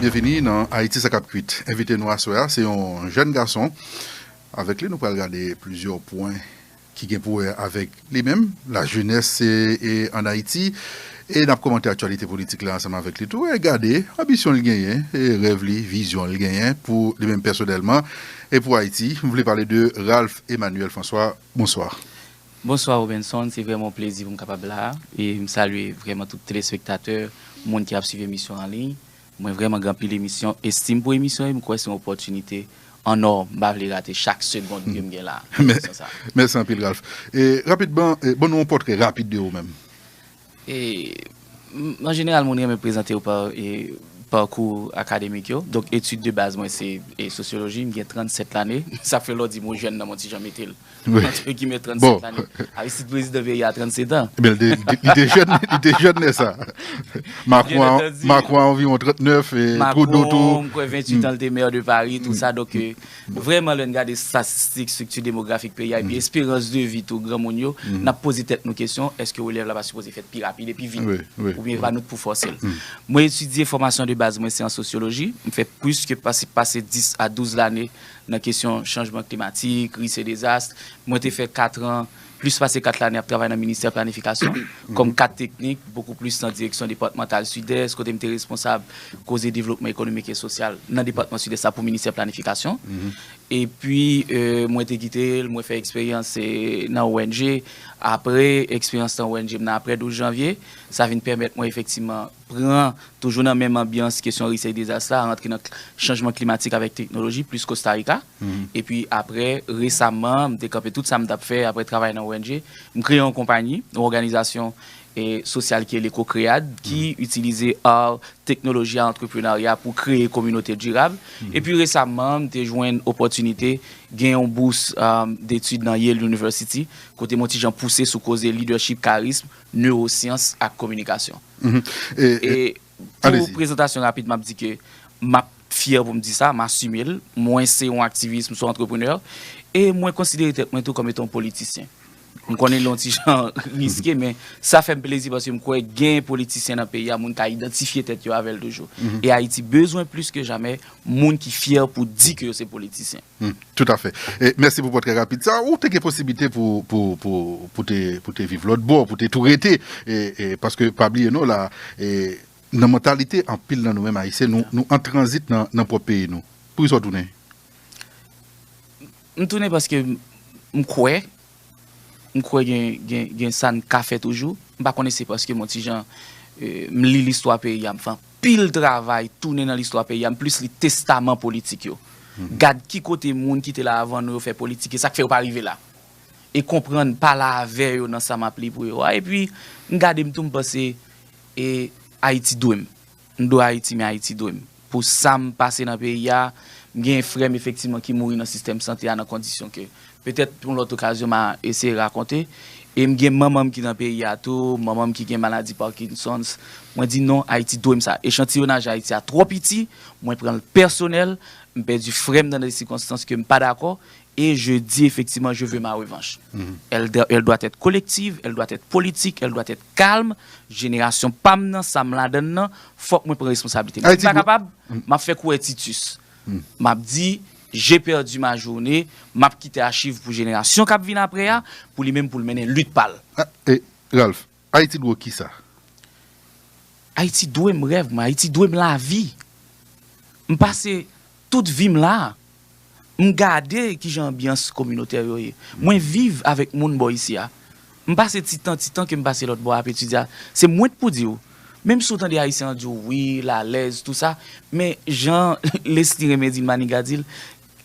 Byenvini nan Ayiti sa kap kuit. Envite nou aswè a se yon jèn gason. Avèk li nou pral gade plizyè pwen ki gen pou wè avèk li menm, lajenès an Ayiti e nap komante aktyalite politik la ansanm avèk li tou e gade anbisyon li genyen, rèv li, vizyon li genyen pou li menm pèsonèlman e pou Ayiti. M vle pale de Ralph Emmanuel François. Bonswa. Bonswa Robenson, se vrèman yon plezi pou m kapab la a. E m salye vrèman tout telespektatè, moun ki ap swiv emisyon an liy. Mwen vrèman gen anpil emisyon, estim pou emisyon e m kwè se yon opòtinite an ò. M pa vle rate chak segond ke m gen la a nan emisyon sa a. Mèsi anpil Ralph. E rapidman, ban nou yon pòtrè rapid de ou menm. An jeneral moun renmen prezante yo pa pakou akademik yo. Donk etid de baz mwen se sosyoloji. M gen 37 lane. Sa fè lè w di m ou jèn nan m yon ti jan mete l antre gimè 37 lane. Aristide prezidan peyi a 37 an. Ebyen li te jèn, li te jèn lè sa. Makron a, Makron a anviwon 39 e Trudeau tou. Makron m kwè 28 an l te maire de Paris tout sa donk. Vrèman lè n gade statistik, strikti demografik peyi a epi esperans de vi tou granmoun yo, n ap poze tèt nou kesyon, èske relèv la pa sipoze fèt pi rapid e pi vit? Oubyen e pa nou k pou fòse l? Mwen etidye fòmasyon de baz mwen se an sosyoloji, m fè plis ke pase 10 a 12 lane nan kesyon chanjman klimatik, ris e dezas. Mwen te fè katran Plis pase 4 lane ap travay nan Ministè Planifikasyon kòm kad teknik, bokou plis nan direksyon depatmantal Sidès, kote m te responsab koze devlopman ekonomik e sosyal nan depatman Sidès la pou Ministè Planifikasyon. Epi, mwen te kite l, mwen fè eksperyans nan ong. Apre eksperyans nan ong m nan apre 12 janvye, sa vin pèmèt mwen efektiman pran, toujou nan menm anbyans kesyon risk e dezas la, rantre nan chanjman klimatik avèk teknoloji, plis Kostarika. Epi apre, resaman, m te kanpe tout sa m t ap fè apre travay nan ong. M kreye yon konpayi, yon òganizasyon sosyal ki rele Cocread, ki itilize ar, teknoloji ak antreprenarya pou kreye kominote dirab. Epi resaman, m te jwenn opòtinite gen yon bous detid nan Yale University, kote m yon ti jan pouse sou koze lidèchip, karism, newosyans ak kominikasyon. Pou prezantasyon rapid map di ke map fyè pou m di sa, m asime l, mwen se yon aktivis, m se yon antreprenè, e mwen konsidere tèt mwen tou kòm etan yon politisyen. M konnen li yon ti jan riske men sa fè m plezi paske m kwè gen politisyen nan peyi a moun ka idantifye tèt yo avè l toujou. E Ayiti bezwen plis ke jamè moun ki fyè pou di ke yo se politisyen. Tout afè. Mèsi pou pòtrè rapid sa. Ou te gen posiblite pou te viv lòt bò, pou te tou rete. Paske pa bliye non la, nan mantalite anpil nan nou menm Ayisyen, nou an tranzit nan pwòp peyi nou. Poukisa ou tounen? M tounen paske m kwè m kwè gen sa n ka fè toujou. M pa konnen se paske m on ti jan m li listwa peyi a m fè anpil travay tounen nan listwa peyi a m plis li testaman politik yo gad ki kote moun ki te la avan nou yo fè politik e sa k fè yo pa rive la e konprann pa la avè yo nan sa m ap li pou yo a epi m gade m tou m panse e Ayiti dwe m. M dwe Ayiti men Ayiti dwe m. Pou sa m pase nan peyi a, m genyen frè m efektivman ki mouri nan sistèm sante a nan kondisyon ke petèt yon lòt okazyon m a eseye rakonte. E m gen manman m ki nan peyi a tou, manman m ki gen maladi Parkinson's. Mwen di non, Ayiti dwe m sa. Echantiyonaj Ayiti a twò piti, mwen pran l pèsonèl, m pèdi frè m nan de sikonstans ke m pa dakò E je di efektiman je ve ma revanch. El dè el dwa tèt kolektiv, el dwa tèt politik, el dwa tèt kalm, jenerasyon pa m nan, sa m ladan n nan, fòk mwen pran responsabilite m. Si m pa kapab, m ap fè kou Ètitus. M ap di, J'ai perdu ma journée, m ap kite achiv pou jenerasyon k ap vin apre a, pou li menm pou l mennen lit pa l. E, Ralph? Ayiti dwe w kisa? Ayiti dwe m rèv mwen. Ayiti dwe m lavi. M pase tout vi m la a. M gade ki jan anbyans kominotè yo ye. Mwen viv avèk moun bò isi a. M pase ti tan, ti tan ke m pase lòt bò a ap etidye a. Se mwen t pou di w. Menm si w tande Ayisyen an di w wi, l alèz, tou sa, men jan Lesly renmen di l, Maniga di l,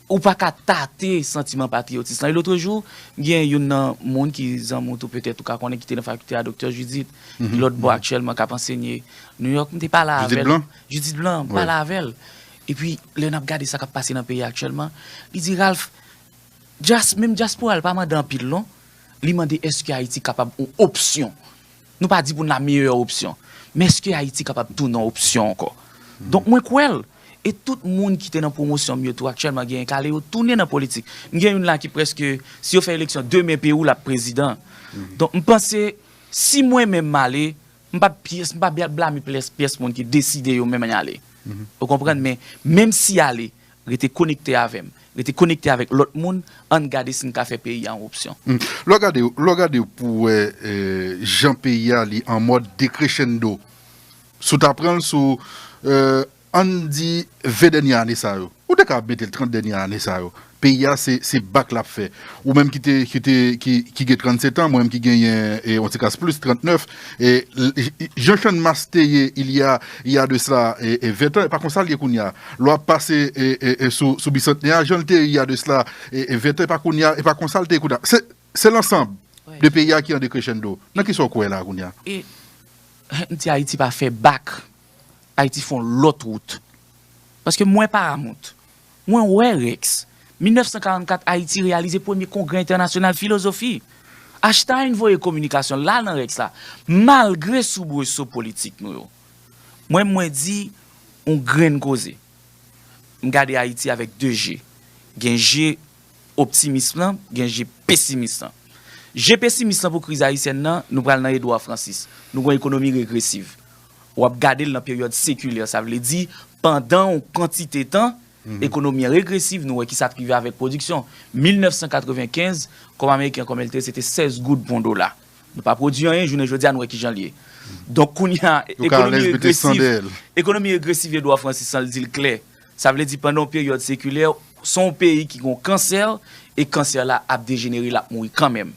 Ou pa ka tate santiman patriyotis lan. Elotrejou, gen youn nan moun ki zanmi w tou petèt ou ka konnen ki te nan fakilte a, Doktè Judith, ki lòt bò aktyèlman, k ap ansenye New York. M te pale avè l. Judith Blanc? Judith Blanc. M pale avè l. Epi, lè n ap gade sa k ap pase nan peyi a aktyèlman, li di, Ralph, djas, menm djaspora l pa mande anpil non. Li mande èske Ayiti kapab yon opsyon. Nou pa di pou n la meyè opsyon. Men eske Ayiti kapab tounen yon opsyon ankò? Donk mwen kwè l. E tout moun ki te nan pwomosyon m yo tou aktyèlman genyen kale yo tounen nan politik. M gen youn la ki prèske, si yo fè eleksyon demen Perou l ap prezidan. Donk m panse si mwen menm m ale, m pa p pyès, m pa p blame pyès moun ki deside yo menm y ale. Ou konprann? Men menm si y ale. Rete konekte avè m. Rete konekte avèk lòt moun, ann gade si n ka fè peyi a yon opsyon. Lè w gade, lè w gade pou w wè jan peyi a li an mòd dekrechendo, si w ta pran l sou, ann di 20 dènye ane sa yo, ou te ka mete l 30 dènye ane sa yo, peyi a se, se bak l ap fè. Ou menm ki te, ki te, ki, ki gen 37 an, mwen menm ki genyen yon ti kas plis, 39. Jan Channmas te ye il y a il y a de cela 20 ans e pa konsa li ye kounya. Lè wap pase sou Bicentenaire a jan li te ye il y a de cela 20 ans e pa kounya e pa konsa li te ye kounya. Se lansanb de peyi a ki an decrescendo. Nan kisa w kwè la kounya? E m di Ayiti pa fè bak. Ayiti fè yon lòt wout. Paske mwen pa amont. Mwen wè Rex. 1944 Ayiti reyalize premye kongrè entènasyonal filozofi. Achtayne voye kominikasyon la nan Rex la, malgre soubreso politik nou yo. Mwen menm mwen di yon grenn koze. M gade Ayiti avèk de je. Gen je optimism lan, gen je pesimis lan. Je pesimis lan pou kriz ayisyèn nan, nou pral nan Edouard Francis. Nou gen yon ekonomi regresiv. w ap gade l nan peryòd sekilè, sa vle di pandan yon kantite tan, ekonomi an regresiv, nou wè ki sa k rive avèk pwodiksyon. 1995, kòb ameriken kòm el te ye se te 16 goud pou yon dola. Nou pa pwodui anyen, jounen jodi a nou wè ki jan l ye. Donk kounye a, ekonomi regresiv, ekonomi regresiv Edouard Francis san l di l klè, sa vle di pandan yon peryòd sekilè, se yon peyi ki gen yon kansè e kansè la ap dejenere, l ap mouri kanmenm.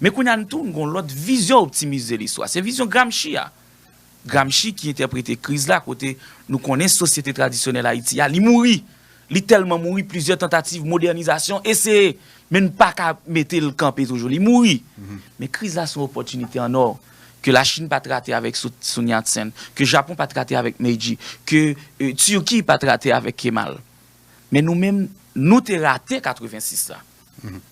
Men kounye a n tou, n gen yon lòt vizyon optimis de listwa, se vizyon Gramsci a. Gramsci ki entèprete kriz la kote nou konnen sosyete tradisyonèl Ayiti a, li mouri, li tèlman mouri plizyè tantativ modènizasyon eseye, men n pa ka mete l kanpe toujou, li mouri. Men kriz la se yon opòtinite an ò ke Lachin pa t rate avèk Sun Yat-sen, ke Japon pa t rate avèk Meiji, ke Turki pa t rate avèk Kemal. Men nou menm, nou te rate 86 la.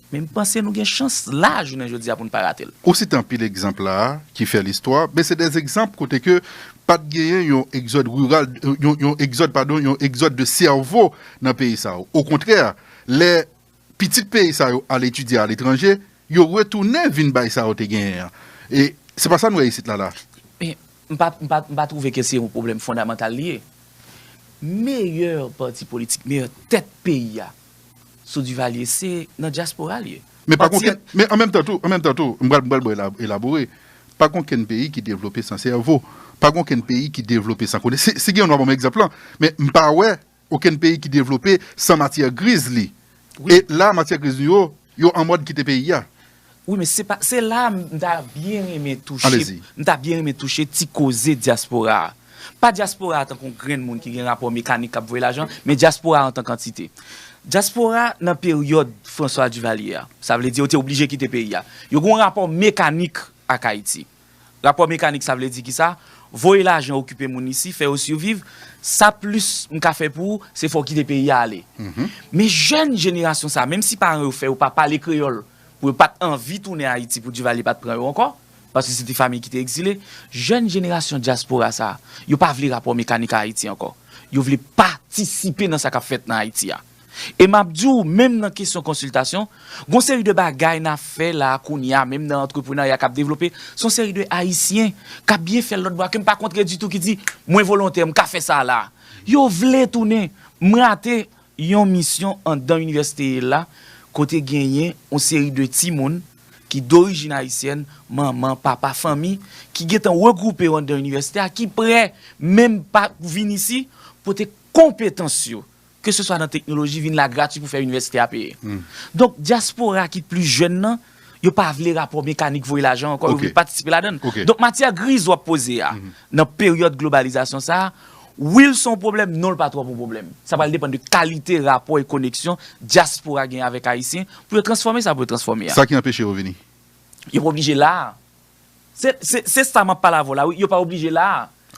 Men m panse nou gen chans la jounen jodi a pou n pa rate l. Ou site anpil egzanp la a ki fè listwa, men se dè egzanp kote ke pa t genyen yon egzòd riral, yon egzòd padon, yon egzòd de sèvo nan peyi sa yo. Okontrè, lè pitit peyi sa yo al etidye aletranje, yo retounen vin bay sa yo te genyen an. E se pa sa n wè isit la la. Men, m pa, m pa, m pa twouve ke se yon pwoblèm fondamantal li ye. Meyè pati politik, meyè tèt peyi a, sou Duvalier se nan dyaspora l ye. Men pa gonken, men an menm tan tou, an menm tan tou, m pral, m pral bon elabore, pa gonken peyi ki devlope san sèvo, pa gonken peyi ki devlope san kone, si gen yon nou a ban mwen egzanp lan, men m pa wè oken peyi ki devlope san matyè griz li, e la matyè griz nou yo, Yo anmòd kite peyi a. Wi men se pa, se la a m ta byen renmen touche, m ta byen renmen touche ti koze dyaspora a. Pa dyaspora a tankou yon grenn moun ki gen rapò mekanik k ap voye lajan, men dyaspora a antank antite. Dyaspora nan peryòd François Duvalier a, sa vle di yo te oblije kite peyi a, yo gen yon rapò mekanik ak Ayiti. Rapò mekanik sa vle di kisa? Voye lajan okipe moun isi, fè yo siviv, sa plis m ka fè pou ou, se fè w kite peyi a ale. Men jèn jenerasyon sa, menm si paran yo fè yo pa pale kreyòl pou yo pa t anvi tounen Ayiti pou Divalye pa t pran yo ankò, paske se te famiy ki te egzile, jèn jenerasyon dyaspora sa, yo pa vle rapò mekanik a Ayiti ankò. Yo vle patisipe nan sa k ap fèt nan Ayiti a. E map di w menm nan kesyon konsiltasyon, gon seri de bagay na fè la kounye a menm nan antreprenarya kap devlope, son seri de ayisyen kap byen fèl lòt bò a ke m pa kontre ditou ki di mwen volontè m ka fè sa la. Yo vle tounen. M rate yon misyon andan inivèsite la kote genyen yon seri de timoun ki dorijin ayisyèn, manman, papa, fanmi ki gentan regwoupe yo andan inivèsite a ki prè menm pa vin isi pote konpetans yo ke se swa nan teknoloji vin la grati pou fè inivèsite a peye. Donk dyaspora ki plis jèn nan, yo pa vle rapò mekanik voye lajan ankò, yo vle patisipe ladann. Donk matyè griz wap poze a, nan peryòd globalizasyon sa, wi l se yon pwoblèm, non l pa twòp yon pwoblèm. Sa pral depann de kalite rapò e koneksyon dyaspora genyen avèk Ayisyen pou yo transfòme sa pou yo transfòme a. Sa ki anpeche yo vini? Yo pa oblije la a. Se sa map pale avè w la wi, yo pa oblije la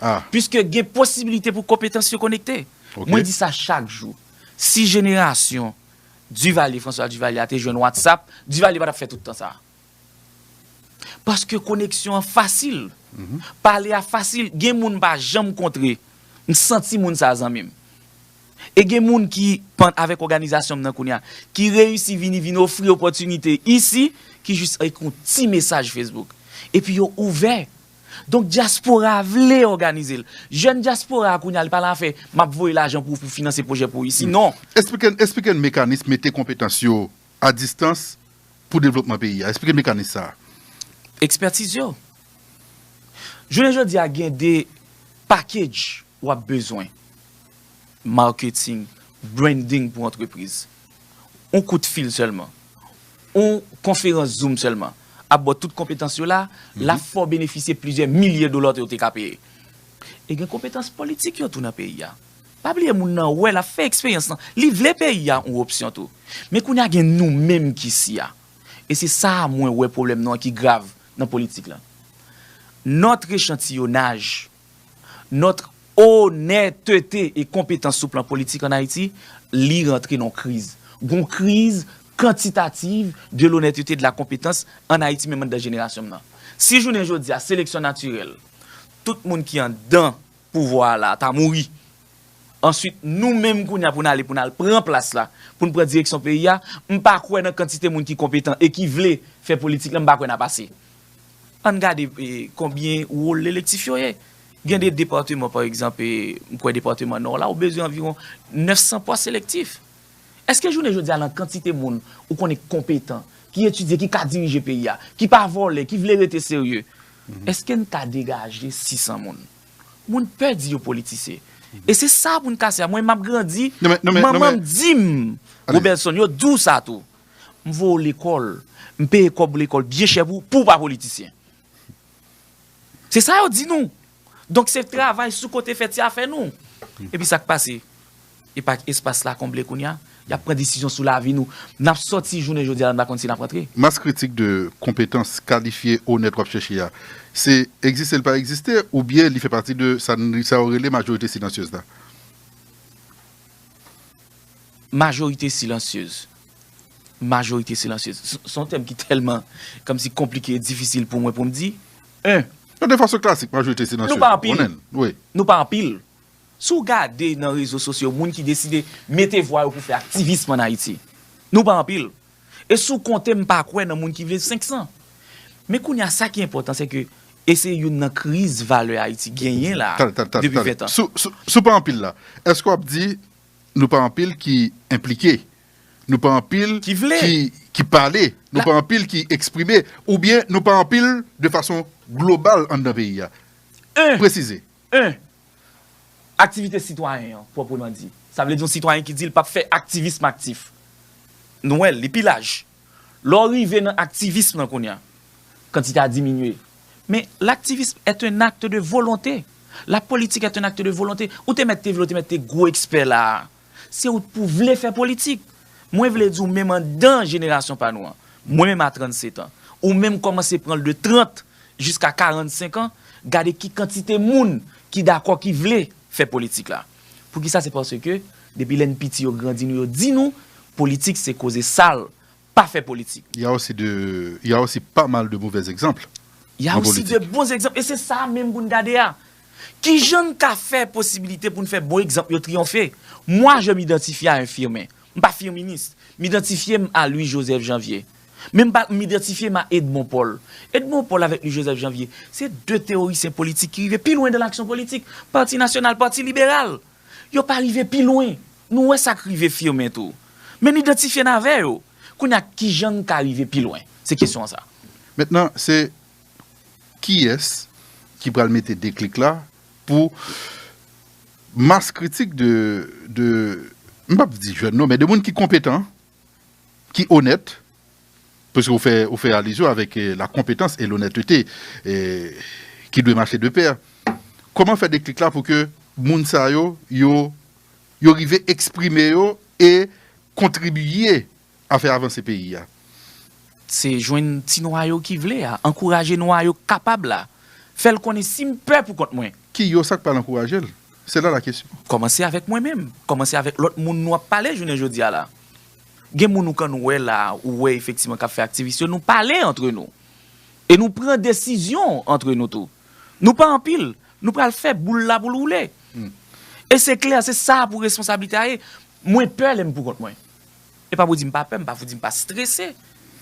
a. Piske gen posibilite pou konpetans yo konekte. Mwen di sa chak jou. Si jenerasyon Duvalier, François Duvalier a te jwenn WhatsApp, Duvalier pa tap fè tout tan sa a. Paske koneksyon an fasil. Pale a fasil. Gen moun m pa janm kontre, m santi moun sa a zanmi m. E gen moun ki pan avèk òganizasyon m nan kounye a, ki reyisi vini vin ofri opòtinite isi, ki jis ekri yon ti mesaj Facebook. Epi yo ouvè. Donk dyaspora a vle òganize l. Jèn dyaspora a kounye a li pa la fè m ap voye lajan pou pou finanse pwojè pou isi, non. Esplike n esplike n mekanis mete konpetans yo a distans pou devlopman peyi a. Esplike n mekanis sa a. Ekspètiz yo. Jounen jodi a gen de package Wap bezwen marketing, branding pou antrepriz. Yon kout fil sèlman, yon konferans zoom sèlman ap baw tout konpetans yo la, lap fè w benefisye plizyè milye dola yo te ka peye. E gen konpetans politik yo tou nan peyi a. Pa bliye moun nan wè, lap fè eksperyans lan, li vle peyi a yon opsyon tou. Men kounya gen nou menm ki si a. E se sa a mwen wè pwoblèm nou an ki grav nan politik lan. Notre echantillonnage nòt onètete e konpetans sou plan politik an Ayiti, li rantre nan yon kriz. Gon kriz kantitativ de l'honnêteté, de la compétence an Ayiti menm anndan jenerasyon m nan. Si jounen jodi a seleksyon natirèl, tout moun ki anndan pouvwa a la ta mouri, answit nou menm kounye a pou n ale pou n al pran plas la, pou n pran direksyon peyi a, m pa kwè nan kantite moun ki konpetan e ki vle fè politik la, m pa kwè n ap ase. Ann gade konbyen wòl lelektif yo ye. Gen de depateman, pa egzanp, m kwè depateman Nò la, ou bezwen anviwon 900 pwa selektif. Èske jounen jodi a, nan kantite moun ou konnen ki konpetan, ki etidye, ki ka dirije peyi a, ki pa vòlè, ki vle rete serye, èske n ka degaje 600 moun? Moun pè di yo politise. E se sa pou n kase a. Mwen m ap grandi, manman m di m, Robertson, yo di w sa tou. M voye w lekòl, m peye kòb lekòl byen chè pou pou w pa politisyen. Se sa yo di nou. Donk se travay sou kote fè ti afè nou. Epi sa k pase? E pa espas la konble kounye a? Y ap pran desizyon sou lavi nou. N ap soti jounen jodi a la n pa konn si n ap rantre. Mas kritik de konpetans kalifye, onèt w ap chèche a, se egziste l pa egziste oubyen li fè pati de sa yo rele majorite silansyez la? Majorite silansyez, majorite silansyez, se yon tèm ki tèlman kòmsi konplike e difisil pou mwen pou m di, 1. Yon defansyon klasik majorite silansyez. Nou pa anpil, nou pa anpil. Si w gade nan rezo sosyo moun ki deside mete vwa yo pou fè aktivism ann Ayiti, nou pa anpil. E si w konte m pa kwè nan moun ki vle 500. Men kounye a sa ki enpòtan se ke, e se youn nan kriz valè Ayiti genyen la a depi 20 tan. Si w pa anpil la, èske w ap di Nou pa anpil ki enplike. Nou pa anpil ki pale. Nou pa anpil ki eksprime. Oubyen nou pa anpil de fason global anndan peyi a. Presize. 1. Aktivite sitwayen an, pwopreman di. Sa vle di yon sitwayen ki di li pap fè aktivism aktif. Nou wè l, li pi laj. Lè w rive nan aktivism lan kounye a, kantite a diminye. Men, l'activisme est un acte de volonté. La politique est un acte de volonté. Ou te mèt te vle ou te mèt te gwo ekspè la a, se ou t pou vle fè politik. Mwen vle di w menm andan jenerasyon pa nou an, mwen menm a 37 an, ou menm kòmanse pran l de 30 jiska 45 an, gade ki kantite moun ki dakò ki vle fè politik la. Poukisa se paske depi lè n piti yo grandi nou yo di nou politik se koze sal pa fè politik. Ya osi de ya osi pa mal de movè egzanpl Ya osi de bon egzanpl e se sa a menm pou n gade a kijan n ka fè posibilite pou n fè bon egzanpl yo triyonfe mwa je m idantifye a un Firmin M pa firminis. M idantifye m a Louis Joseph Janvier. Men m pa m idantifye m a Edmond Paul. Edmond Paul avèk Louis Joseph Janvier, se de teworisyen politik ki rive pi lwen dan laksyon politik. Pati Nasyonal, Pati Liberal. Yo pa rive pi lwen. Nou wè sa k rive Firmin tou. Men n idantifye n avè yo. Kounye a, ki jan n ka rive pi lwen? Se kesyon an sa. Mentnan, se. kiyès ki pral mete deklik la pou mas kritik de, de, m pap di jèn non, men de moun ki konpetan, ki onèt, pwiske ou fè, ou fè alizyon avèk la konpetans e lonètete ki dwe mache de pè. Kòman fè deklik la pou ke moun sa yo, yo, yo rive eksprime yo e kontribiye. a fè avanse peyi a. Se jwenn ti nwayo ki vle a, ankouraje nwayo k kapab la, fè l konnen si m pè pou kont mwen. Ki yo sa k pral ankouraje l? Se la la kesyon. Kòmanse avèk mwen menm, kòmanse avèk lòt moun nou ap pale jounen jodi a la. Gen moun ou konn wè la a, ou wè efektivman k ap fè aktivis yo, nou pale antre nou. E nou pran desizyon antre nou tou. Nou pa anpil, nou pral fè boul la pou l woule. E se klè, se sa pou responsablite a ye. Mwen pè lè m pou kont mwen. E pa pou di m pa pè, m pa pou di m pa strese.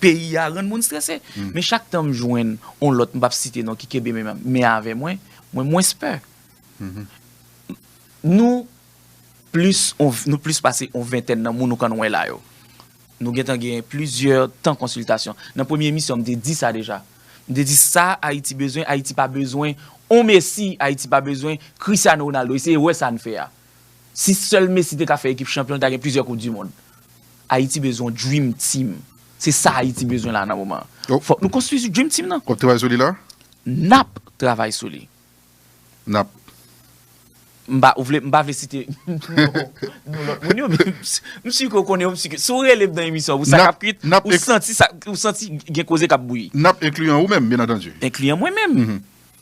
Peyi a rann moun strese. Men chak tan m jwenn yon lòt, m p ap site non, ki kenbe men avè mwen, mwen mwens pè. Nou plis, nou plis pase yon ventèn nan moun ou konn wè la yo. Nou gen tan gen plizyè tan konsiltasyon. Nan premye emisyon m te di sa deja. M te di sa Ayiti bezwen, Ayiti pa bezwen yon Messi, Ayiti pa bezwen Cristiano Ronaldo. Eseye wè sa n fè a. Si sèl Messi te ka fè ekip chanpyon li ta gen plizyè koup du mond. Ayiti bezwen yon dream team. Se sa Ayiti bezwen la nan moman an. Fòk nou konstwi sou dream team nan. Wap travay sou li la? Nap travay sou li. Nap. M pa, ou vle, m pa vle site non lòt moun yo men m si ke ou konnen yo, m si ke si ou rele m nan emisyon an pou sa kap kwit, ou santi sa, ou santi gen koze kap bouyi. Nap enkliyan ou menm byen antandi. Enkliyan mwen menm.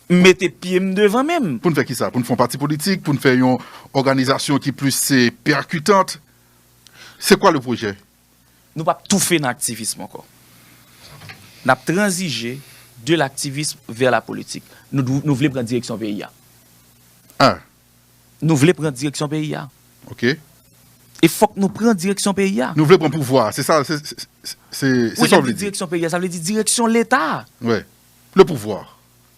M mete pye m devan men m. Pou n fè ki sa? Pou n fè yon pati politik? Pou n fè yon òganizasyon ki plis se pèkitant? Se kwa le pwojè? Nou p ap toufe nan aktivism ankò. N ap tranzije de laktivism vè lapolitik. Nou vle pran direksyon peyi a. A. Nou vle pran direksyon peyi a. Ok. E fòk nou pran direksyon peyi a. Nou vle pran pouvwa a. Se sa, se sa w vle di. Ou lè m di direksyon peyi a, sa vle di direksyon Leta a. Wi. Le pouvoir.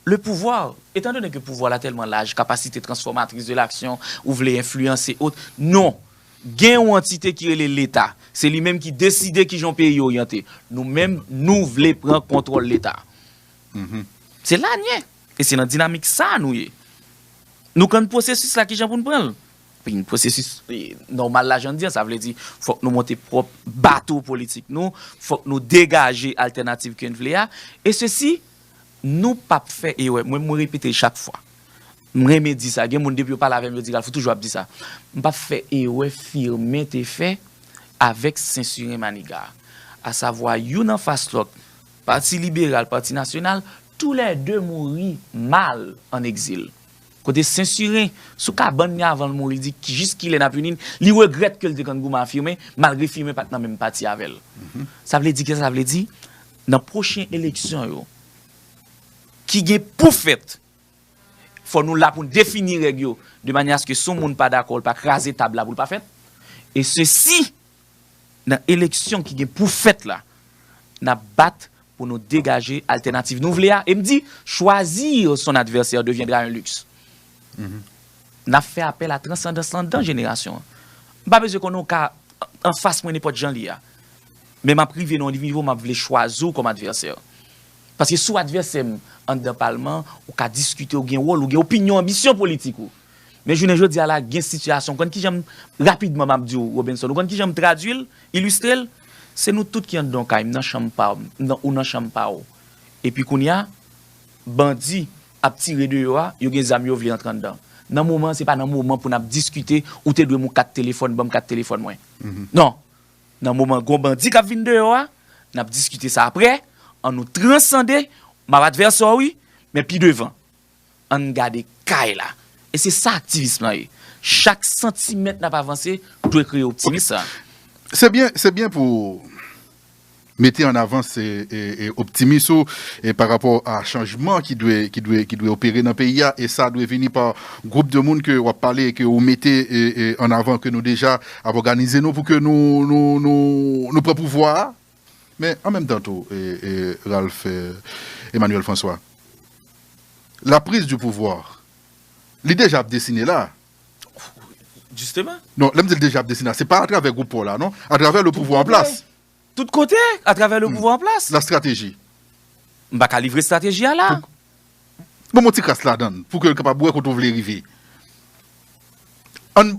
Le pouvoir, etant donné que pouvwa la tèlman laj, capacité transformatrice de l'action, ou vle enfliyanse ot, non! Gen yon antite ki rele Leta. Se li menm ki deside ki jan yon peyi oryante. Nou menm, nou vle pran kontwòl Leta. Se la n ye. E se nan dinamik sa a nou ye. Nou kann pwosesis la ki jan pou n pran l. Vin pwosesis nòmal lajan di an, sa vle di fòk nou monte pwòp bato politik nou, fòk nou degaje altènativ ke n vle a, e sesi nou p ap fè erè. Mwen mwen repete l chak fwa. M renmen di sa. Gen moun depi yo pale avè m yo di Ralph ou toujou ap di sa. M p ap fè erè Firmin te fè avèk sensiren Maniga a. Asavwa youn anfas lòt, Pati Liberal, Pati Nasyonal, tou lè de mouri mal an egzil. Kote sensiren sou kabann ni avan l mouri l di jis kilè nap uni n li regrèt ke l te konn goumen a Firmin malgre Firmin pat nan menm pati avè l sa vle di kisa sa vle di nan pwochen eleksyon yo ki gen pou fèt fò nou la pou n defini règ yo de manyè aske si yon moun pa dakò l pa kraze tab la pou l pa fèt e sesi. Nan eleksyon ki gen pou fèt la, n ap bat pou nou degaje altènativ nou vle a e m di choisir son adversaire deviendra un luxe. N ap fè apèl a transandans lan dan jenerasyon an. M pa bezwen konnen w ka anfas mwen nenpòt jan li ye a, men m ap rive nan yon nivo m ap vle chwazi w kòm advèsè. Paske si w advèsè m anndan palman, ou ka diskite, ou gen wòl, ou gen opinyon, anbisyon politik ou. Men jounen jodi a la gen sitiyasyon, ou konn kijan m, rapidman m ap di w Robinson, ou konn kijan m tradui l, ilistre l? Se nou tout ki anndan yon kay, m nan chanm pa m, ou nan chanm pa w. Epi kounye a, bandi ap tire deyò a, yo gen zam yo vle antre anndan. Nan moman an se pa nan moman pou n ap diskite, ou te dwe m yon kat telefòn, ban m kat telefòn mwen. Non! Nan moman gon bandi k ap vin deyò a, n ap diskite sa aprè, an nou transande, m ap advèsè w wi, men pi devan. Ann gade kay la. E se sa aktivism lan ye. Chak santimèt n ap avanse dwe kreye optimism sa a. Se byen pou ou mete an avans optimism ou pa rapò a chanjman ki dwe opere nan peyi a. E sa dwe vini pa gwoup de moun ke w ap pale e ke ou mete an avan ke nou deja ap òganize nou pou ke nou pran pouvwa a. Men, an menm tan tou, Ralph Emmanuel François, la prise du pouvoir, li deja ap desine la. Jisteman. Non, lè m di li deja ap desine la, se pa atravè gwoup pa w la non, atravè le pouvwa an plas. Tout kote, atravè le pouvwa an plas. La strateji. M pa ka livre strateji a la. Ban m yon ti kras ladan l, pou ke l kapab wè kote ou vle rive. An,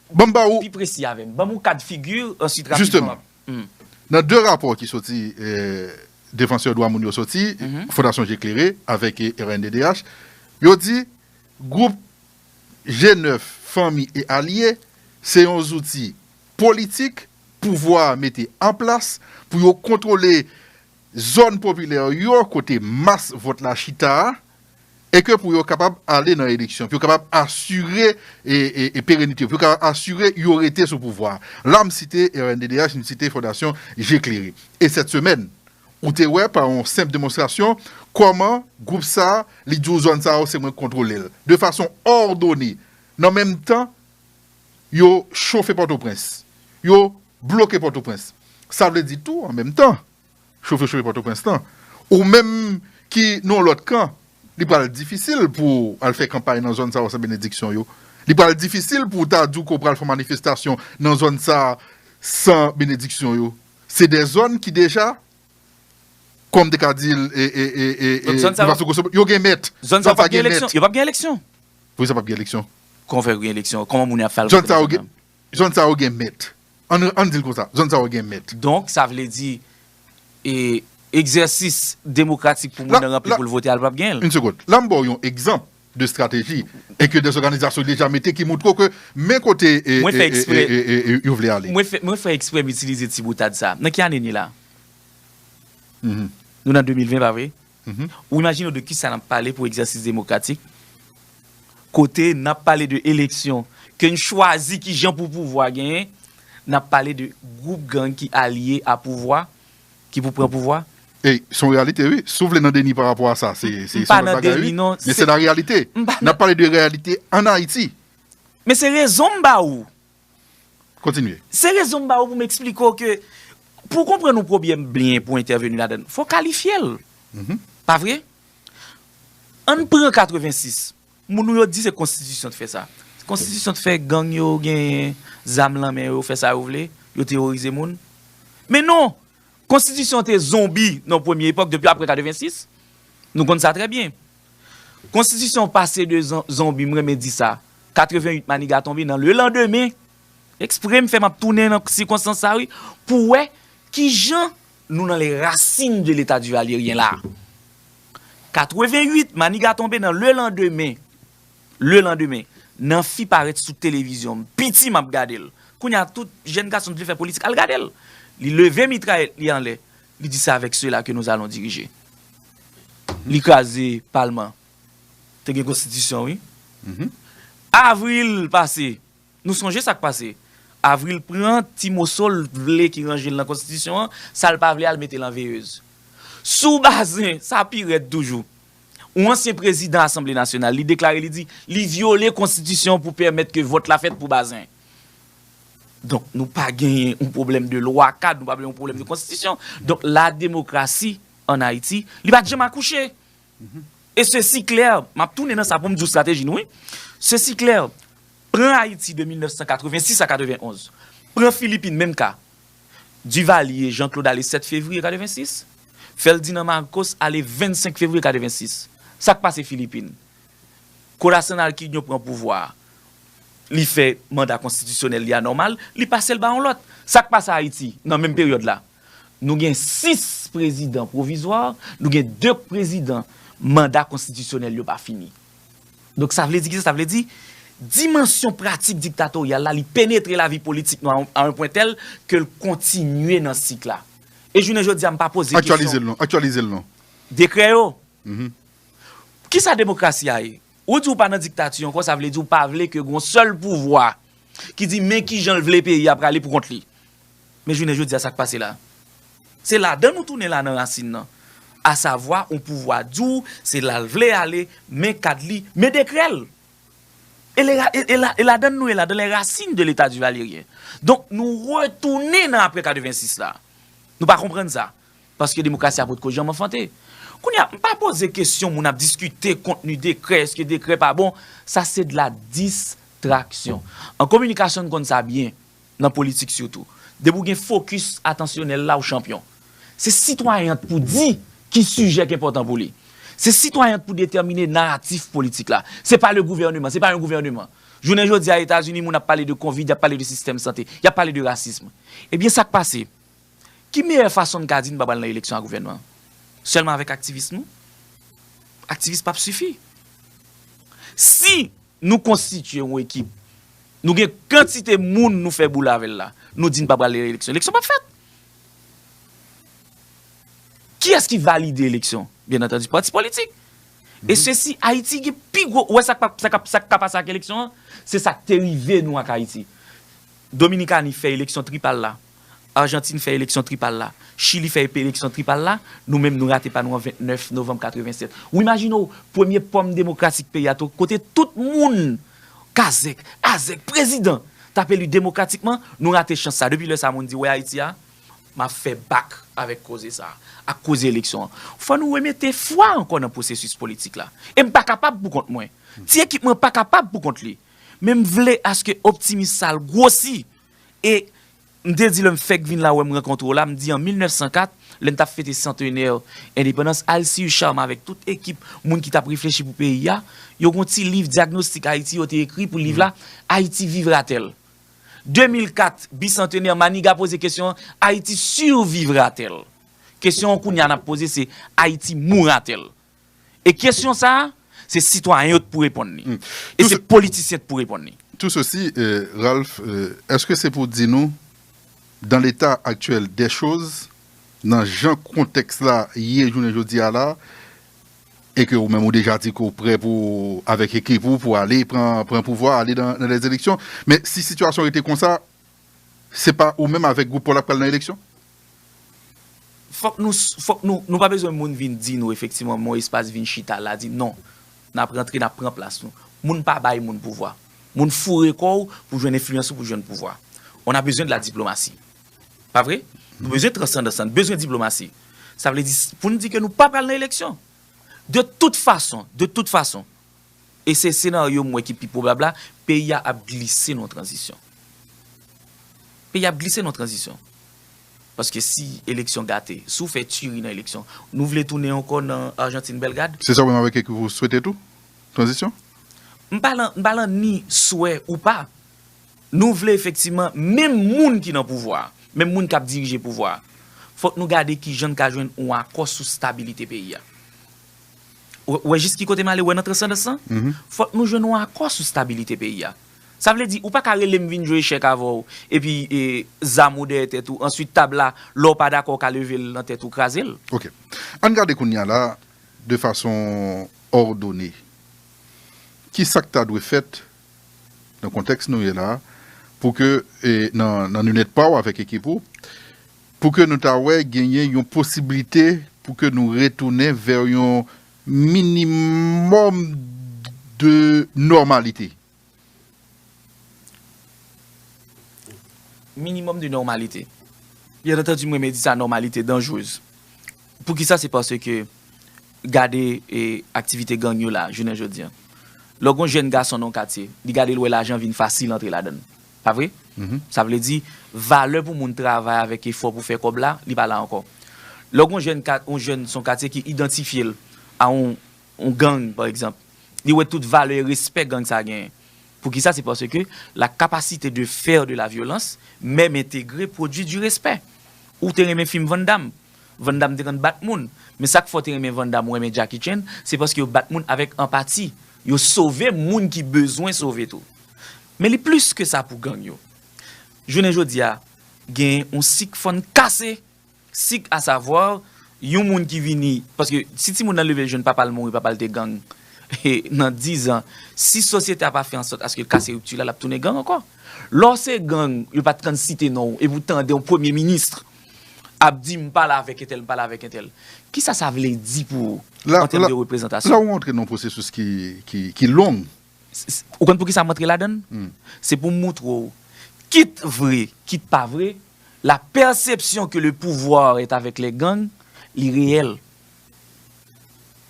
ban m ba ou. Pi presi avè m. Ban m yon kad figi, ansuit rapidman. Jisteman. Nan 2 rapò ki soti defansè dwa moun yo soti, Fondasyon Je Klere avèk rnddh, yo di gwoup G9, Fanmi e Alye se yon zouti politik pouvwa a mete an plas pou yo kontwole zòn popilè yo kote mas vòt la chita a, e ke pou yo kapab ale nan eleksyon, pou yo kapab asire perenite, pou yo kapab asire yo rete sou pouvwa a. La m site rnddh, m site Fondasyon Je Klere. E sèt semèn, ou te wè pa yon senp demonstrasyon, kòman gwoup sa a, li di w zòn sa yo se mwen k kontwole l, de fason òdone, nan menm tan, Yo chofe Pòtoprens. Yo bloke Pòtoprens. Sa vle di tou, an menm tan, chofe chofe Pòtoprens lan, ou menm ki nan yon lòt kan, li pral difisil pou w al fè kanpay nan zòn sa yo san benediksyon yo. Li pral difisil pou w ta di w ke w pral fè yon manifestasyon nan zòn sa a san benediksyon yo. Se de zòn ki deja, kòm m te ka di l, e, e, e, e, e, Donk zòn sa yo, yo gen mèt. Zòn sa yo pap gen eleksyon. Yo pap gen eleksyon. Poukisa pap gen eleksyon? Kòman fè gen eleksyon? Kòman moun yo ap fè al vote la menm? Zòn sa yo gen mèt. Ann di l konsa, zòn sa yo gen mèt. Donk sa vle di egzèsis demokratik pou moun nan ranpli pou l vote al pap gen l? Yn segond. La m ba w yon egzanp de estrateji e ke dèzòganizasyon deja mete ki moutre w ke men kote yo vle ale. Mwen fè eksprè m itilize ti boutad sa. Nan ki ane n ye la? Nou nan 2020 pa vre? Ou imajine w de kisa n ap pale pou egzèsis demokratik, kote n ap pale de eleksyon, ke n chwazi kijan pou pouvwa genyen, n ap pale de gwoup gang ki alye a pouvwa, ki pou pran pouvwa? E, se yon reyalite wi. Si w vle nan deni pa rapò a sa, se yon lòt bagay wi, men se la reyalite. N ap pale de reyalite an Ayiti. Men se rezon m ba ou. Kontinye. Se rezon m ba ou pou m eksplike w ke pou w konprann yon pwobyèm byen pou w entèveni ladan l, fò w kalifye l. Pa vre? Ann pran 86. Moun nou yo di se konstitisyon te fè sa. Konstitisyon te fè gang yo genyen zam lan men yo fè sa yo vle, yo teworize moun. Men non! Konstitisyon te zonbi nan premye epòk depi apre 86. Nou konn sa trè byen. Konstitisyon pase de zonbi m renmen di sa 88 maniga tonbe nan le landemen ekspre m fè m ap tounen nan sikonstans sa wi pou wè kijan nou nan le rasin de leta divalieryen la 88 maniga tonbe nan le landemen le landemen nan fi parèt sou televizyon m piti m ap gade l kounya tout jenn gason m t vle fè politik al gade l li leve mitrayèt li anlè Li di se avèk sela ke nou alon dirije. Li kraze palman. Te gen konstitisyon wi. Avril pase. Nou sonje sa k pase. Avril pran ti moso l t vle ki ranje l nan konstitisyon an, sa l pa vle a l mete l an veyez. Sou Bazin, sa pi rèd toujou. Yon ansyen prezidan asanble nasyonal, li deklare li di, li vyole konstitisyon pou pèmèt ke vòt la fèt pou Bazin. Donk nou pa genyen yon pwoblèm de lwa kad, nou pa gen yon pwoblèm de konstitisyon. Donk la demokrasi an Ayiti, li pa t janm akouche. E sesi klè, m ap tounen nan sa pou m di w estrateji nou wi. Sesi klè, pran Ayiti de 1986 a 91, pran Filipin menm ka, Divalye, Jan Klod ale 7 fevriye 86, Fèldinand Marcos ale 25 fevriye 86. Sa k pase Filipin? Corazon Aquino pran pouvwa a, li fè manda konstitisyonèl li a nòmal, li pase l ba yon lòt. Sa k pase Ayiti nan menm peryòd la? Nou gen 6 prezidan pwovizwa, nou gen 2 prezidan manda konstitisyonèl yo pa fini. Donk sa vle di ki sa? Sa vle di dimansyon pratik diktatoryal la, li penetre lavi politik nou a yon pwen tèl ke l kontinye nan sik la. E jounen jodi a m pa poze kesyon. Aktyalize l non. Dekrè yo. Kisa demokrasi a ye? Ou di ou pa nan diktati ankò, sa vle di ou pa vle ke gen yon sèl pouvwa ki di men kijan l vle peyi a prale pou kont li. Men jounen jodi a sa k pase la? Se ladan nou tounen la nan rasin nan. Asavwa yon pouvwa di ou se la l vle ale, men kad li, men dekrè l. E ladan nou ye la, dans les racines de l'Etat Duvalierien. Donk nou retounen nan apre 86 la. Nou pa konprann sa. Paske demokrasi a potko janm anfante. Kounye a, m pa poze kesyon moun ap diskite kontni dekrè, eske dekrè pa bon. Sa se de la distraksyon. An kominikasyon n konn sa byen, nan politik sitou. Depi w gen fokis atansyonèl la, w chanpyon. Se sitwayen an k pou di ki sijè k enpòtan pou li. Se sitwayen an k pou detèmine naratif politik la. Se pa le gouvèneman, se pa yon gouvèneman. Jounen jodi a Etazini moun ap pale de konvid, y ap pale de sistèm sante, y ap pale de rasism. Ebyen sa k pase? Ki meyè fason n ka di n pa pral nan eleksyon ak gouvènman an? Sèlman avèk aktivis nou? Aktivis pap sifi. Si nou konstitye yon ekip, nou gen kantite moun nou fè boule avè l la, nou di n pa pral nan eleksyon, eleksyon pap fèt. Kiyès ki valide eleksyon? Byennantandi pati politik. E se si Ayiti gen pi gwo, ou wè sa k pa pase ak eleksyon an? Se sa k te rive nou ak Ayiti. Dominikani fè eleksyon tripal la, Argentine fè eleksyon tripal la, Chili fè epereksyon tripal la, nou menm nou rate pa nou an 29 novanm 87. Ou imajine w, premye pòm demokratik peyi a to, kote tout moun, kazèk, azèk, prezidan, t ap eli demokratikman, nou rate chans sa. Depi lè sa moun di, wè Ayiti a, m ap fè bak avèk koze sa, ak koze eleksyon an. Fò nou remete fwa ankò nan pwosesis politik la. E m pa kapab pou kont mwen. Ti ekip mwen pa kapab pou kont li. Men m vle aske optimis sa l gwosi E, m te di lè m fèk vin la wè m rankontre w la, m di an 1904, lè n t ap fete santenè endepandans, Alcide Charme avèk tout ekip moun ki t ap reflechi pou peyi a, yo gen yon ti liv Diagnostic Haïti yo te ekri pou liv la, Haïti vivra-t-elle? 2004, bisantenè, Maniga poze kesyon an, Haïti survivra-t-elle? Kesyon an kounye a n ap poze se, Haïti mourra-t-elle? E kesyon sa a, se sitwayen yo t pou reponn li. E se politisyen t pou reponn li. Tout sosi, Ralph, eske se pou di nou, dan leta aktyèl dè choz, nan jan kontèks la ye jounen jodi a la, e ke ou menm ou deja di ke ou prè pou ou, avèk ekip ou, pou ale pran pouvwa, ale nan lèzeleksyon, men si sitiyasyon rete konsa, Se pa ou menm avek group paw la k pral nan eleksyon? Fok nou fok nou nou pa bezwen moun vin di nou efektiman mon espas vin chita la di non nap rantre nap pran plas nou moun pa bay moun pouvwa moun foure kò w pou jwenn enfliyans ou pou jwenn pouvwa on a besoin de la diplomatie pa vre nou bezwen transandans lan bezwen diplomasi sa vle di poun di ke nou pa pral nan eleksyon de tout fason de tout fason. e se senaryo m wè ki pi pwobab la, peyi a ap glise nan yon tranzisyon. Peyi a ap glise nan yon tranzisyon. Paske si eleksyon gate, si w fè tiri nan eleksyon, nou vle tounen ankò nan Argentine Bellegarde? Se sa w menm avèk ekip ou swete tou? Tranzisyon? M pa lan, m pa lan ni swè ou pa. Nou vle efektivman menm moun ki nan pouvwa a, menm moun k ap dirije pouvwa a, fòk nou gade kijan n ka jwenn yon akò sou stabilite peyi a. Ou wè jis ki kote m ale wè nan transandans lan? Fòk nou jwenn yon akò sou stabilite peyi a. Sa vle di, ou pa ka rele m vin jwe echèk avè w, epi zam ou dèyè tèt ou, answit tab la, lè w pa dakò w ka leve l nan tèt ou kraze l. Ok. Ann gade kounya la, de fason òdone, ki sa k ta dwe fèt nan kontèks nou ye la pou ke nan linèt pa w avèk ekip ou, Pou ke nou ta wè genyen yon posiblite pou ke nou retounen vè yon minimòm de nòmalite. Minimòm de nòmalite. Byen antandi m renmen di sa nòmalite danjrez. Pou ki sa se pase ke gade aktivite gang yo la jounen jodi an. Lò gon jèn gason nan yon katye, li gade l wè lajan vin fasil antre ladan l. Pa vre? Sa vle di, valè pou moun travay avèk efò pou fè kòb la, li pa la ankò. Lè yon jèn, yon jèn son katye ki idantifye l a yon, yon gang pa egzanp, li wè tout valè e respè gang sa genyen. Poukisa? Se paske la capacité de faire de la violence meme intégrée produit du respect. Ou te renmen fim Van Damme. Van Damme te konn bat moun. Men sa k fè w te renmen Van Damme ou renmen Jackie Chan, se paske yo bat moun avèk anpati. Yo sove moun ki bezwen sove tou. Men li plis ke sa pou gang yo. Jounen jodi a, gen yon sik fò n kase, sik a savwa, yon moun ki vini, paske si timoun nan leve jwenn papa l mouri, papa l te gang, nan dizan, si sosyete a pa fè ansòt aske l kase ripti la, l ap tounen gang ankò. Lè w se gang, yo pa kan site non w, epi w tande yon premye minis ap di m pale avèk entèl, m pale avèk entèl, ki sa sa vle di pou ou, an tèm de reprezantasyon? La ou antre nan yon pwosesis ki long. Ou konn poukisa m antre ladann? Se pou m moutre w, kit vre, kit pa vre, la perception que le pouvoir est avec les gangs, li reyèl.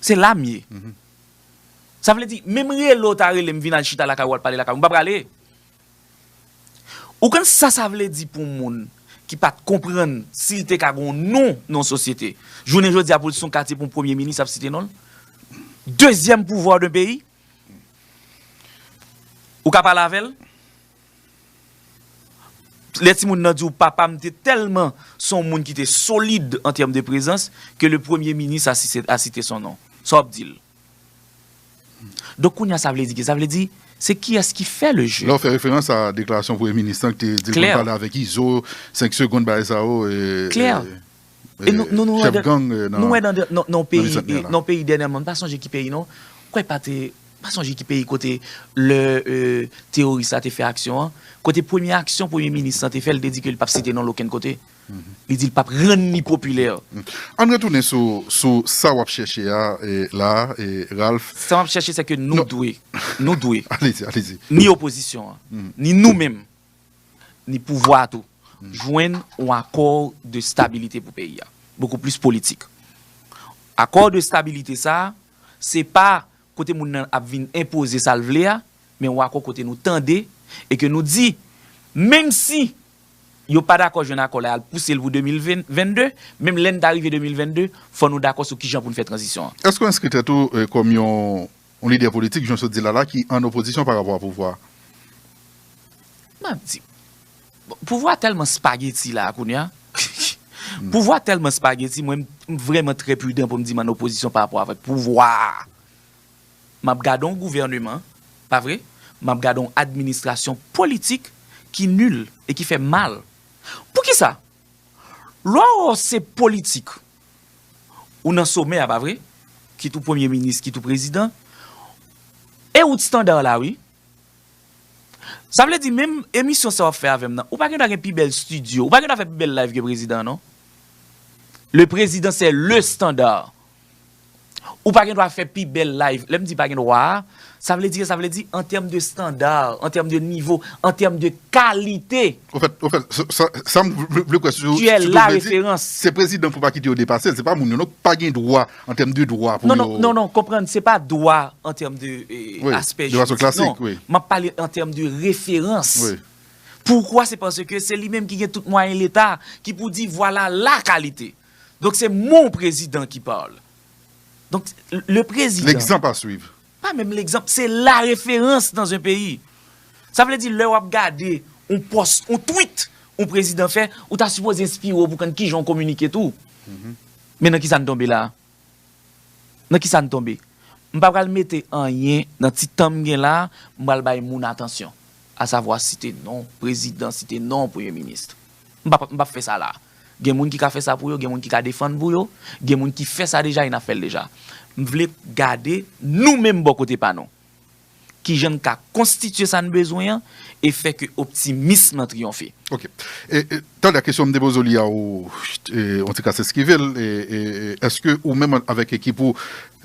Se la m ye. Sa vle di, menm rele w ta rele m vin al chita lakay ou al pale lakay ou, m pa prale. Ou konn sa sa vle di pou yon moun ki pa t konprann si l te ka gen yon non nan yon sosyete, jounen jodi a pou l se yon katye pou yon premye minis ap site non l? Dezyèm pouvwa dan peyi? Ou ka pale avè l? Lè timoun nan di w papa m te tèlman se yon moun ki te solid an tèm de prezans ke le premye minis a site son non. Sa w ap di l? Donk kounye a sa vle di ki? Sa vle di se kiyès ki fè le je. Lè w fè referans a deklarasyon premye minis lan ki te di l konn pale avèk Izo, 5 segonn bagay sa yo. Klè. chèf gang nan Bicentenaire la. Nou wè nan peyi dènyèman, m pa sonje ki peyi non, kwè pa te, m pa sonje ki peyi kote lè teworis la te fè aksyon an, kote premye aksyon premye minis lan te fè, li te di ke li p ap site non l okenn kote. Li di li p ap rann li popilè. Ann retounen sou sa w ap chèche a la a, Ralph. Sa m ap chèche se ke nou dwe, nou dwe, ni opozisyon an, ni nou menm ni pouvwa a tou jwenn yon akò de stabilite pou peyi a, bokou plis politik. Akò de stabilite sa a, se pa kote moun nan ap vin enpoze sa l vle a, men yon akò kote nou tande e ke nou di, menm si yo pa dakò jwenn akò la y al pouse l pou 2022, menm lè n ta rive 2022, fò nou dakò sou kijan pou n fè tranzisyon an. Èske w enskri tèt ou kòm yon Yon lidè politik jan w sot di l la la ki an opozisyon pa rapò a pouvwa. M ap di. Bon, pouvwa tèlman spageti la a kounye a. Pouvwa tèlman spageti mwen m vrèman trè pridan pou m di m an opozisyon pa rapò avèk pouvwa a. M ap gade yon gouvèneman, pa vre? M ap gade yon administrasyon politik ki nil e ki fè mal. Poukisa? Lò se politik ou nan somè a pa vre? Kit ou premye minis, kit ou prezidan. E ou tstandar la wi. Sa vle di menm emisyon sa w ap fè avè m nan, ou pa gen dwa gen pi bèl stidyo, ou pa gen dwa fè pi bèl live ke prezidan an non. Le prezidan se le standar. Ou pa gen dwa fè pi bèl live. Lè m di pa gen dwa a, sa vle di, sa vle di an tèm de standard, an tèm de nivo, an tèm de kalite. Ofèt, ofèt, sa m vle kwè sou sa ou vle di, se prezidan pou pa kite yo depase l, se pa moun yo non ki pa gen dwa an tèm de dwa pou yo. Non, non, non, konprann, se pa dwa an tèm de aspè juridik, non. M ap pale an tèm de referans. Poukwa? Se paske se li menm ki gen tout mwayen leta ki pou di vwala la kalite. Donk se mon prezidan ki parle. Donk le prezidan. L'exemple à suivre. Pa menm l'exemple, se la referans dans un peyi. Sa vle di lè wap gade yon post, yon tweet yon prezidan fè, ou ta sipoze enspire w pou konn kijan w kominike tou. Men nan kisa n tonbe la a? Nan kisa n tonbe? M pa pral mete anyen nan ti tan m gen la a, m pral bay moun atansyon. Asavwa site non prezidan, site non premye minis. M pa m pap fè sa la a. Gen moun ki ka fè sa pou yo, gen moun ki ka defann pou yo, gen moun ki fè sa deja e n ap fè l deja. M vle gade nou menm bò kote pa nou, ki jan n ka konstitye sa n bezwen an e fè ke optimism lan triyonfe. Ok. E, talè kesyon m te poze w li a ou, on ti kras eskive l, e, èske ou menm avèk ekip ou,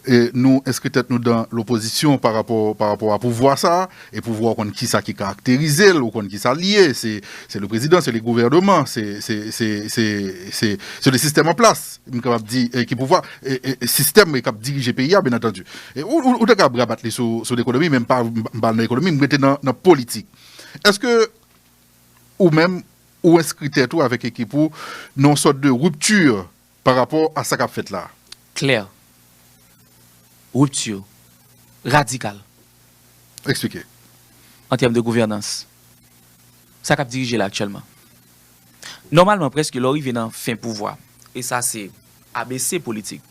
E nou enskri tèt nou dan lopozisyon pa rapò pa rapò a pouvwa sa a, e pouvwa ou konn kisa ki karakterize l, ou konn kisa l ye, se se le prezidan, se le gouvèneman, se se se se se se le sistèm an plas, m kapab di e ki pouvwa e e sistèm e k ap dirije peyi a byen antandi. E ou ou ta kab rabat li sou sou lekonomi men m pa m pa al nan ekonomi, m rete nan nan politik. Eske ou menm ou enskri tèt ou avèk ekip ou nan yon sòt de rupture Pa rapò a sa k ap fèt la a. Klè. Rupture. Radikal. Eksplike. An tèm de gouvènans. Sa k ap dirije la aktyèlman. Nòmalman prèske lè w rive nan fen pouvwa. E sa se ABC politik.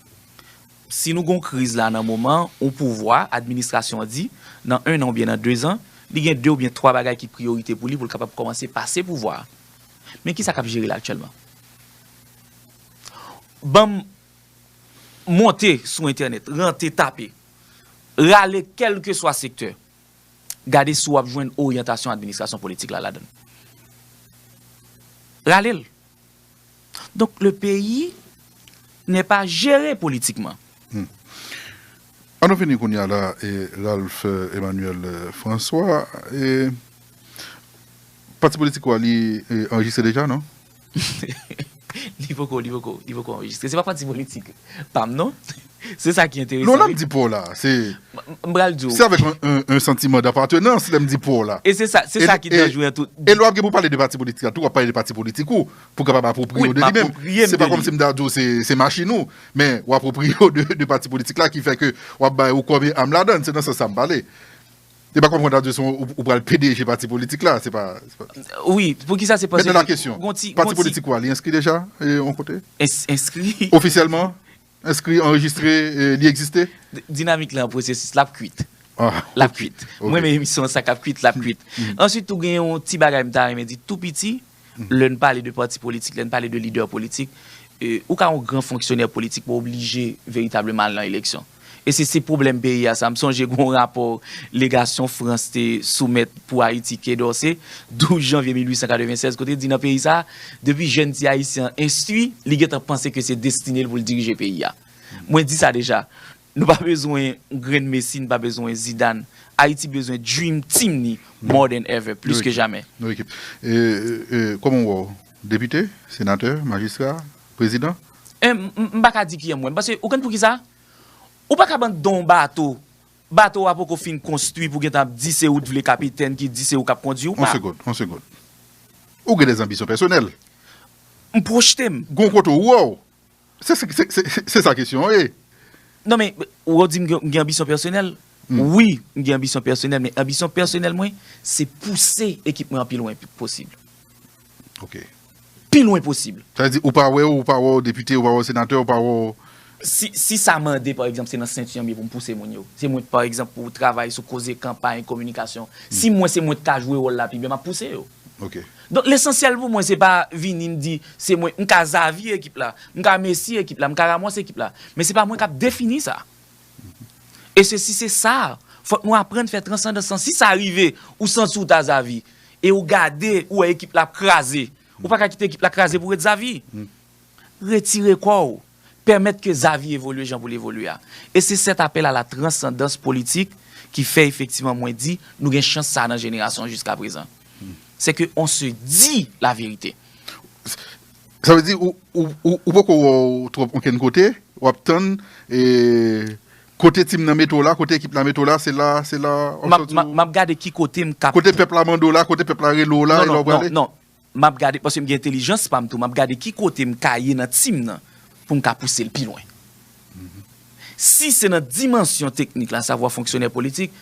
Si nou gen yon kriz la nan moman yon pouvwa, administrasyon an di, nan ennan oubyen nan dezan, li gen de oubyen twa bagay ki priyorite pou li pou l kapab kòmanse pase pouvwa a. Men ki sa k ap jere la aktyèlman. Banm monte sou entènèt, rantre tape, rale kèlkeswa sektè, gade si w ap jwenn oryantasyon administrasyon politik la ladan l. Rale l. Donk le peyi nè pa jere politikman. An nou vini kounye a la e Ralph Emmanuel François e pati politik ou a li anrejistre deja non? Li poko, li poko, li poko anrejistre. Se pa pati politik pam non. Se sa ki enteresan wi. Non lèm di pouw la, se M pral diw. Se avèk yon santiman dapatenans lèm di pouw la. E se sa, se sa ki danjre nan tout. E lè wap gen pou pale de pati politik la tou, wap pale de pati politik ou, pou kapab apwopriyew de li menm. Wi, m apwopriyem de li. Se pa kòmsi m ta diw se machin ou, men w apwopriyew de pati politik la ki fè ke wap bay ou kòb e am ladann. Se nan sans sa m pale. Epa kòm konn tradwi son ou pral pdg pati politik la se pa. Wi poukisa se paske. Mèt nan la kesyon pati politik ou a li enskri deja yon kote? Enskri. Ofisyèlman enskri anrejistre li egziste? Dinamik la an pwosesis lap kwit. Lap kwit. M renmen emisyon an sa kap kwit lap kwit. Answit tou gen yon ti bagay m ta renmen di tou piti. Lè n pale de pati politik, lè n pale de lidè politik, ou ka yon gran fonksyonè politik men w oblije veritableman al nan eleksyon. E se se pwoblèm peyi a sa. M sonje gen yon rapò legasyon Frans te soumèt pou Ayiti, Quai d'Orsay, 12 janvye 1896, kote l di nan peyi sa a, depi jèn ti Ayisyen an enstwi, li gentan panse ke se destine l pou l dirije peyi a. Mwen di sa deja, Nou pa bezwen grenn Messi n pa bezwen Zidane Ayiti bezwen dream team ni more than ever plis ke jamè. Nou ekip. E kòman w wè w? Depite? Senatè? Majistra? Prezidan? M pa ka di kijan m wè m paske ou konn poukisa? Ou pa ka ban don w bato, bato w a poko fin konstwi pou w gentan ap di se ou t vle kapitèn ki di se ou k ap kondwi ou pa. On segond. Ou gen dè zanbisyon pèsonèl. M pwojte m. Gon kote ou wè w. Se sa kesyon an ye. Non men, ou ap di m gen anbisyon pèsonèl? Wi, m gen anbisyon pèsonèl men anbisyon pèsonèl mwen se pouse ekip mwen an pi lwen posib. Ok. Pi lwen posib. Sa vle di ou pa wè w, ou pa wè w depite, ou pa wè w senatè, ou pa wè w. Si sa mande pa egzanp se nan senti an m ye pou m pouse moun yo. Se mwen pa egzanp pou travay sou koze kanpay, kominikasyon. Si m wè se mwen ki ka jwe wòl la pi byen m ap pouse yo. Ok. Donk lesansyèl pou mwen se pa vini m di se mwen m ka zavi ekip la, m ka Messi ekip la, m ka Ramos ekip la, men se pa mwen k ap defini sa. E se si se sa, fòk nou aprann fè transandans lan. Si sa rive ou santi ou ta Xavi e ou gade ou wè ekip la ap kraze, ou pa ka kite ekip la kraze pou w ret Xavi. Retire kò ou. Pèmèt ke Xavi evolye jan pou l evolye a. E se sèt apèl a la transandans politik ki fè efektivan mwen di nou gen chans sa a nan jenerasyon jiska prezan. Se ke on se di la verite. Sa vle di ou poko wè w twòp onkenn kote, w ap tann kote tim nan mete w la, kote ekip la mete w la, se la, se la. M ap gade ki kote m ka. Kote pèp la mande w la, kote pèp la rele w la, e la w prale? Non, non, non. Map gade paske m gen entelijans pa m tou, map gade ki kote m ka ye nan team nan pou m ka pouse l pi lwen. Si se nan dimansyon teknik la, savwa fonksyonè politik,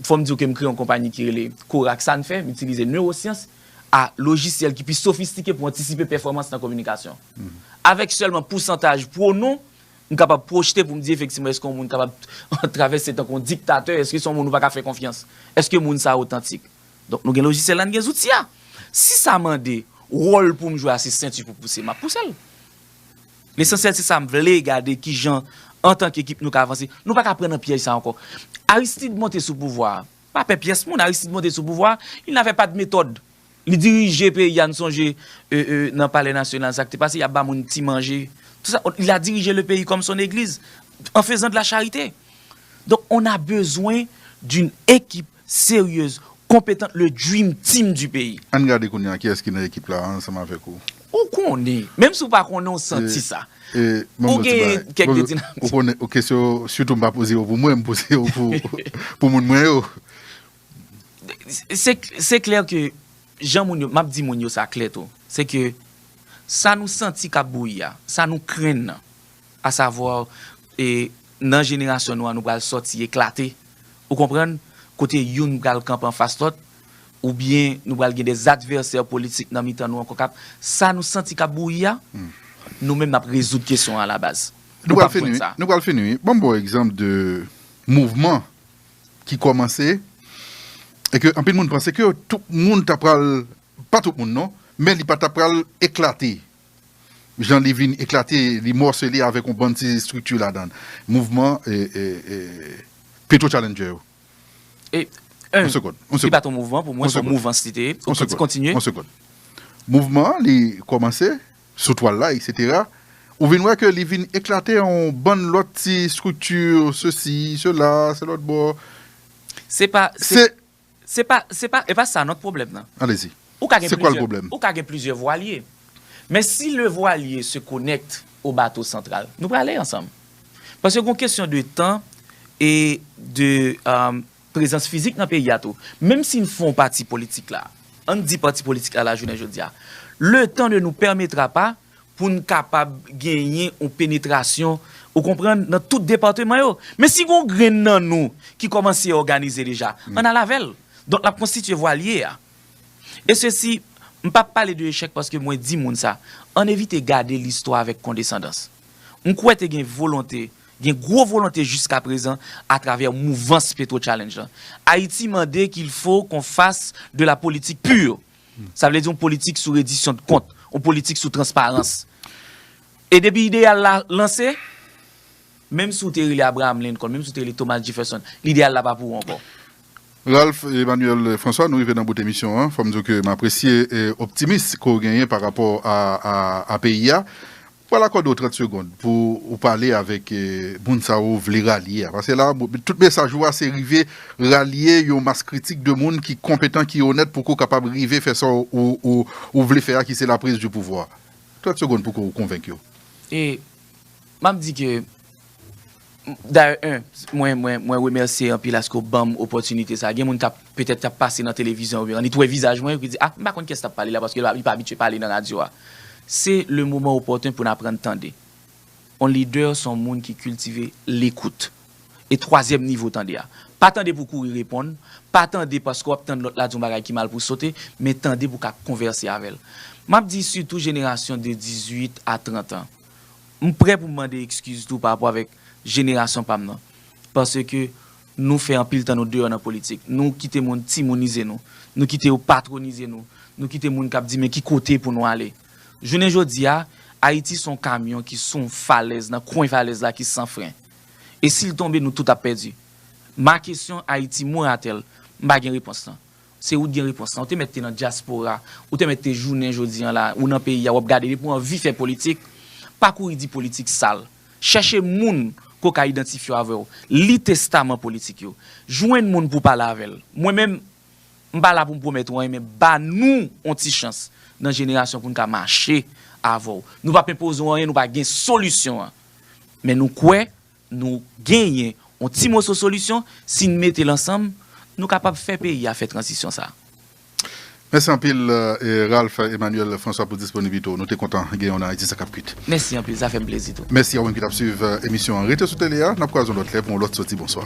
fò m di w ke m kreye yon konpayi ki rele Korak. Sa n fè? M itilize newosyans a lojisyèl ki pi sofistike pou antisipe pèfòmans nan kominikasyon. Avèk sèlman pousantaj pwonon, m kapab pwojte pou m di efektivman eske yon moun kapab travèse tankou yon diktatè, eske se yon moun ou pa ka fè konfyans, eske moun sa a otantik. Donk nou gen lojisyèl la n gen zouti a. Si sa mande wòl pou m jwe a se senti pou pouse m ap pouse l. Lesansyèl se sa m vle gade ki jan antanke ekip nou ka avanse. Nou pa ka pran nan pyèj sa ankò. Aristide monte sou pouvwa a. Pa pè pyès moun Aristide monte sou pouvwa a, il n'avait pas de méthode. Li dirije peyi a n sonje nan palè nasyonal sa k te pase y ap ba moun ti manje tout sa. Il a dirije le peyi kòm son egliz an fezan de la charite. Donk on a bezwen d'une ekip Serieuse, competente le dream team du pays. Ann gade kounye a kiyès ki nan ekip la ansanm avèk ou. Ou konnen, menm si w pa konnen w santi sa. Ou gen kèk de ti nan ti. Ou konnen ou kesyon yo sitou m pa poze yo pou mwen, m poze yo pou moun mwen yo. Se klè ke jan moun yo, m ap di moun yo sa klè tou, se ke sa nou santi k ap bouyi a, sa nou krenn nan. A savoir e nan jenerasyon nou an nou pral sòti eklate ou konprann kote youn pral kanpe anfas lòt ou byen nou pral gen des adversaires politiques nan mitan nou ankò kap sa nou santi kap bouyi a nou menm nap rezoud kesyon an a la baz. Nou pral fini wi, nou pral fini wi. Banm bon egzanp de mouvman ki kòmanse e ke anpil moun panse ke tout moun ta pral, pa tout moun non, men li pa ta pral eklate. jan li vin eklate, li mòsele avèk yon bann ti estrikti ladan l, mouvman Petro Challenger yo. E, en, li pa t yon mouvman, pou mwen, se yon mouvans li te ye. On sekonn, kontinye. On sekonn. Mouvman an, li kòmanse, sou twal la, eksetera, ou vin wè ke li vin eklate an yon bann lòt ti estrikti, sesi, sela, se lòtbò. Se pa, se. Se. Se pa, se pa, e pa sa non pwoblèm nan. Allez-y. Ou ka gen Se kwa l plizyè, pwoblèm? ou ka gen plizyè vwalye. Men si le vwalye se connecte au bateau central, nou prale ansanm. Paske gon kesyon de tan e de prezans fizik nan peyi a tou. Menm si n fon pati politik la, an n di pati politik la lajounen jodi a, le tan ne nous permettra pas pou n kapab genyen yon penetrasyon, ou konprann, nan tout depateman yo. Men si gen yon grenn nan nou ki kòmanse òganize deja, ann al avè l. Donk l ap konstitye vwalye a. E sesi, m pa p pale de echèk paske mwen di moun sa, ann evite gade listwa avèk kondesandans. M kwè te gen volonte, gen gwo volonte jiskaprezan atravè mouvans Petro Challenge lan. Ayiti mande kilfo kon fas de la politik pure. Sa vle di yon politik sou redisyond kont, yon politik sou transparans. E depi ideyal la lanse, menm si w te rele Abraham Lincoln, menm si w te rele Thomas Jefferson, lideyal la pa pou ou ankò. Ralph Emmanuel François, nou rive nan bout emisyon an. Fò m di w ke m apresye optimis ke w genyen pa rapò a peyi a. Pral akòde w 30 segond pou ou pale avèk moun sa ou vle ralye a. Pase la a, tout mesaj ou a se rive ralye yon mas kritik de moun ki konpetan, ki onèt pou ke w kapab rive fè sa ou vle fè a ki se la prise du pouvoir. 30 segond pou ke w konvenk yo. E, m ap di ke. Dayè 1 mwen mwen mwen remèsye anpil aske w banm opòtinite sa gen moun kap petèt kap pase nan televizyon oubyen an li t wè vizaj mwen yo ki di ah m pa konn kiyès kap pale la paske l pa li pa abitye pale nan radyo a se le moman opòten pou n aprann tande on lidè s on moun ki kiltive lekout e twazyèm nivo tande a pa tande pou w kouri reponn pa tande paske w ap tann lòt la di yon bagay ki mal pou w sote men tande pou w ka konvèse avè l m ap di sitou jenerasyon de 18 a 30 an. M prè pou m mande ekskiz tou pa rapò avèk jenerasyon pa m nan. Paske nou fè anpil tan nou deyò nan politik. Nou kite moun timounize nou. Nou kite yo patronize nou. Nou kite moun k ap di men ki kote pou nou ale. Jounen jodi a, Ayiti se yon kamyon ki sou yon falèz, nan kwen falèz la ki san fren. E si l tonbe nou tout ap pèdi. Ma kesyon Ayiti mwen atè l. M pa gen repons lan. Se ou t gen repons lan, ou te mèt te nan dyaspora, ou te mèt te jounen jodi an la, ou nan peyi a wap gade depi w anvi fè politik, pa kouri di politik sal. Chèche moun ke w ka idantifye w avè w, li testaman politik yo, jwenn moun pou w pale avè l. Mwen menm, m pa la pou m pwomèt ou anyen men ba nou on ti chans nan jenerasyon pou n ka mache avè w. Nou pap enpoze w anyen, nou pa gen solisyon an. Men nou kwè Nou genyen yon ti moso solisyon, si n mete l ansanm, nou kapab fè peyi a fè tranzisyon sa a. Mèsi anpil Ralph Emmanuel François pou disponiblite w. Nou te kontan genyen w nan Ayiti sa kap kwit. Mèsi anpil, sa fè m plezi tou. Mèsi a ou menm ki t ap swiv emisyon an. Rete sou tele a, n ap kwaze yon lòt lè pou yon lòt soti. Bonswa.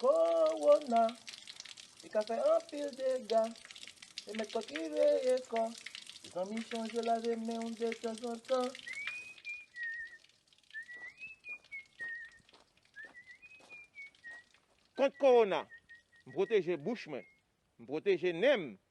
Kowona, li ka fè anpil dega, se mèt kò ki veye kò, mezanmi chonje lave men w de tanzantan. Kont kowona, m pwoteje bouch mwen, m pwoteje nen m,